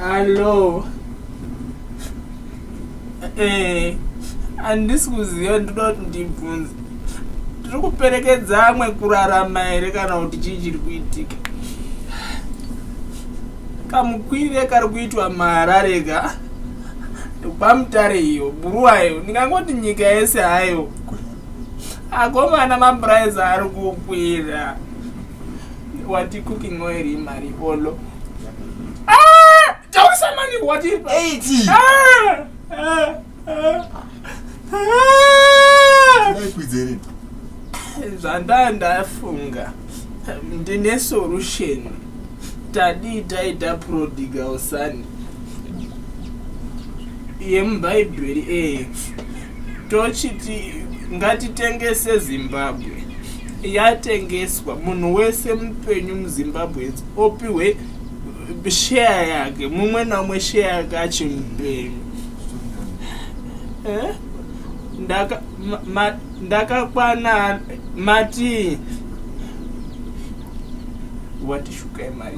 Hello. Eh, handisi kuziva ndoda kuti ndibvunze. Tiri kuperekedza amwe kurarama here kana kuti chii chiri kuitika? Kamukwire kari kuitwa maharare ka pamutare iyo buruwayo ndingangoti nyika yese hayo akomana mapuraizi ari kukwira Wati cooking oil imari olo. Ah! Tausa mani wati. 80. Ah! Ah! Ah! Ah! Dai kwidzerini. Zvanda ndafunga. Ndine solution. Tadi taita prodigal son. Yemubhaibheri eh. tochiti ngatitengese zimbabwe yatengeswa munhu wese mupenyu muzimbabweans opiwe share yake mumwe naumwe share yake achimupenyu eh? ndakakwana mati watishukai mari